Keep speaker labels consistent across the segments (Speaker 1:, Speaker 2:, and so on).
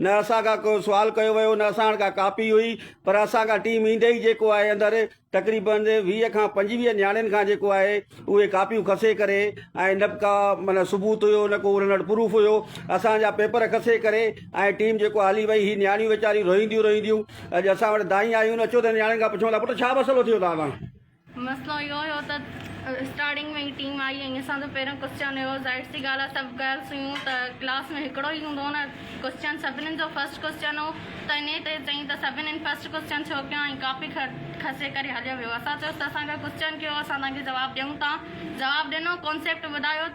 Speaker 1: نه اسان کان ڪو سوال ڪيو ويو نه اسان وٽ ڪا ڪاپي هئي پر اسان کان ٽيم ايندي ئي جيڪو آهي اندر تقريبن ويهه کان پنجويهه نياڻين کان جيڪو آهي اهي ڪاپيون کسي ڪري ۽ نه به ڪا معنيٰ ثبوت هيو نه ڪو انهن وٽ پروف هيو اسان جا پيپر کسي ڪري ۽ ٽيم جيڪو هلي وئي هي نياڻيون ويچاريون روئينديون روئينديون اڄ اسان وٽ دانهين آيون اچو ته نياڻين کان پڇون ٿا پٽ ڇا مسئلو ٿيو توهان سان مسئلو اهو هيو
Speaker 2: ته اسٽارٽنگ ۾ ئي ٽيم آئي ۽ اسان جو پهريون ڪوسچن هيو ظاهر سي ڳالهه آهي سڀ گرلس هيون ته ڪلاس ۾ هڪڙو ئي هوندو نه ڪوسچن سڀنين جو فرسٽ ڪوسچن هو ته انهي تي چيائين ته سڀنين فرسٽ ڪوسچن ڇو ڪيو ۽ ڪاپي کسي ڪري هليو ويو اسان چيس ته اسان ڪوسچن ڪيو اسان توهان کي جواب ڏيون ٿا جواب ڏنو ڪانسيپٽ ٻڌايو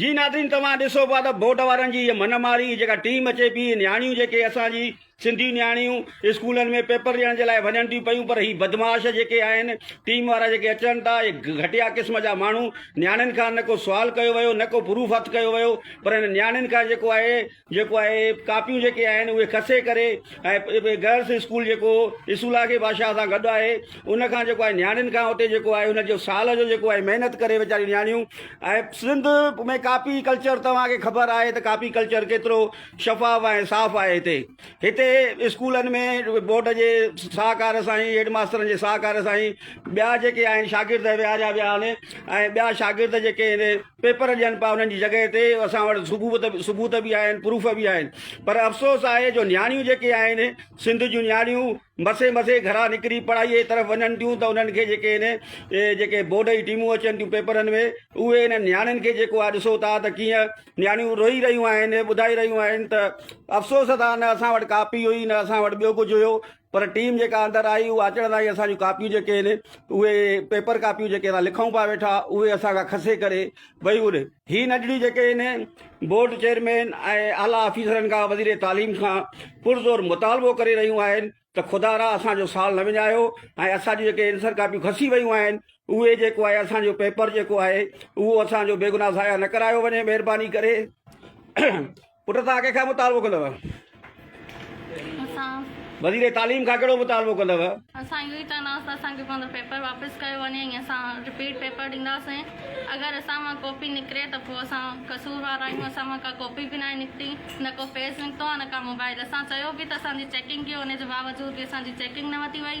Speaker 1: جي ناظرين توهان ڏسو پيا ته بورڊ وارن جي هيء من ماري جيڪا ٽيم اچي پي نياڻيون جيڪي اسان جي سنڌي نياڻيون اسڪولن ۾ پيپر ڏيڻ جي لاء وڃن ٿيون پيون پر هي بدمعاش جيڪي آهن ٽيم وارا جيڪي اچن ٿا اهي گهٽيا قسم جا ماڻهو نياڻين کان نه ڪو سوال ڪيو ويو نه ڪو پروف هٿ ڪيو ويو پر هن نياڻين کان جيڪو آهي جيڪو آهي ڪاپيون جيڪي آهن اهي کسي ڪري ۽ گرلس اسڪول جيڪو اسولا کي بادشاهه سان گڏ آهي ان کان جيڪو آهي نياڻين کان اتي جيڪو آهي ان جو سال جو جيڪو آهي محنت ڪري ويچاريون نياڻيون ۽ سنڌ ۾ ڪاپي ڪلچر توهان کي خبر آهي ته ڪاپي ڪلچر ڪيترو شفاف ۽ صاف آهي هتي هتي اسڪولن ۾ بورڊ جي ساهڪار سان هي هيڊ ماسترن جي ساهڪار سان هي ٻيا جيڪي آهن شاگرد ويهاريا ويا آهن ۽ ٻيا شاگرد جيڪي پيپر ڏين پيا انهن جي جڳهه تي اسان وٽ ثبوت ثبوت به آهن پروف به آهن پر افسوس آهي جو نياڻيون جيڪي آهن سنڌ جون نياڻيون مسي مسي گھرا نڪري پڙهائي جي طرف وڃن ٿيون ته انهن کي جيڪي آهن جيڪي بورڊ جي ٽيمون اچن ٿيون پيپرن ۾ اهي انهن نياڻين کي جيڪو آهي ڏسو ٿا ته ڪيئن نياڻيون روئي رهيون آهن ٻڌائي رهيون آهن ته افسوس اٿا نه اسان وٽ ڪاپي هئي نه اسان وٽ ٻيو ڪجھه هيو پر ٽيم جيڪا اندر آئي اها اچڻ سان ئي اسان جون ڪاپيون جيڪي آهن اهي پيپر ڪاپيون جيڪي اسان لکون پيا ويٺا اهي اسان کان کسي ڪري ويون نه. هي نجڙيون جيڪي آهن بورڊ چيئرمين ۽ اعليٰ آفيسرن کان وزير تعليم کان پرزور مطالبو ڪري رهيون آهن ته خدا را اسان جو سال نه وڃايو ۽ اسان جون جيڪي عنصر ڪاپيون کسي ويون آهن اهي جيڪو آهي اسان جو پيپر جيڪو آهي اهو اسان جو بيگناهه ضايع نه ڪرايو وڃي مهرباني ڪري. پٽ توهان ڪنهن کان مطالبو ڪندؤ؟ اسان. وزير تعليم کان ڪهڙو مطالبو ڪندؤ؟ اسان اهو ئي چونداسين
Speaker 2: ته اسان کي پنهنجو پيپر واپس ڪيو وڃي ۽ اسان رپيٽ پيپر ڏينداسين. اگر اسان مان ڪاپي نڪري ته پوء اسان قصوروار آهيون، اسان مان ڪا ڪاپي به ناهي نڪتي، نه ڪو پيج نڪتو آهي نه ڪا موبائل. اسان چيو به ته اسان جي چيڪنگ ڪيو، ان جي باوجود به اسان جي چيڪنگ نه وڌي وئي.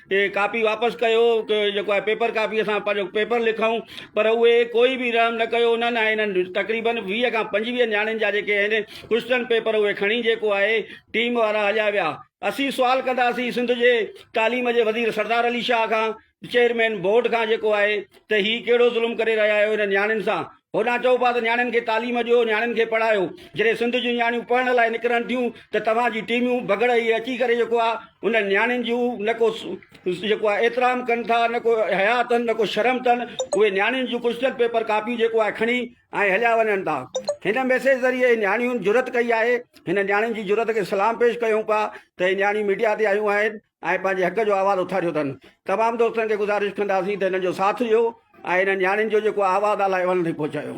Speaker 1: هي ڪاپي واپس ڪيو جيڪو آهي پيپر ڪاپي اسان پنهنجو پيپر لکون پر اهي ڪوئي به رحم نه ڪيو انهن ۽ انهن تقريبن ويهه کان پنجويهه نياڻين جا جيڪي آهن ڪوئسچن پيپر اهي کڻي جيڪو آهي ٽيم وارا هليا ويا اسين سوال ڪنداسين سنڌ جي تعليم جي وزير سردار علي شاهه کان چيئرمين بورڊ کان جيڪو آهي ته هي ڪهڙو ظلم ڪري رهيا آهيو انهن نياڻين سان هوڏانهن چئو پيا ته نياڻين کي تعليم ڏيو، نياڻين کي پڙهايو، جڏهن سنڌ جون نياڻيون پڙهڻ لاء نڪرن ٿيون ته توهان جي ٽيميون بگهڙ هي اچي ڪري جيڪو آ انهن نياڻين جون نه ڪو جيڪو آ احترام ڪن ٿا نه ڪو حياء اٿن نه ڪو شرم اٿن اهي نياڻين جون ڪوشچن پيپر ڪاپيون جيڪو آ کڻي ۽ هليا وڃن ٿا هن ميسيج ذريعي نياڻين جرئت ڪئي آهي هن نياڻين جي جرئت کي سلام پيش ڪيون پيا ته هي نياڻيون ميڊيا تي آيون آهن ۽ پنهنجي حق جو آواز اٿاريو اٿن تمام دوستن کي گذارش ڪنداسين ته هنن جو ساٿ ڏيو ۽ هنن نياڻين جو جيڪو آواز الاهي اونهن تائين پهچايو.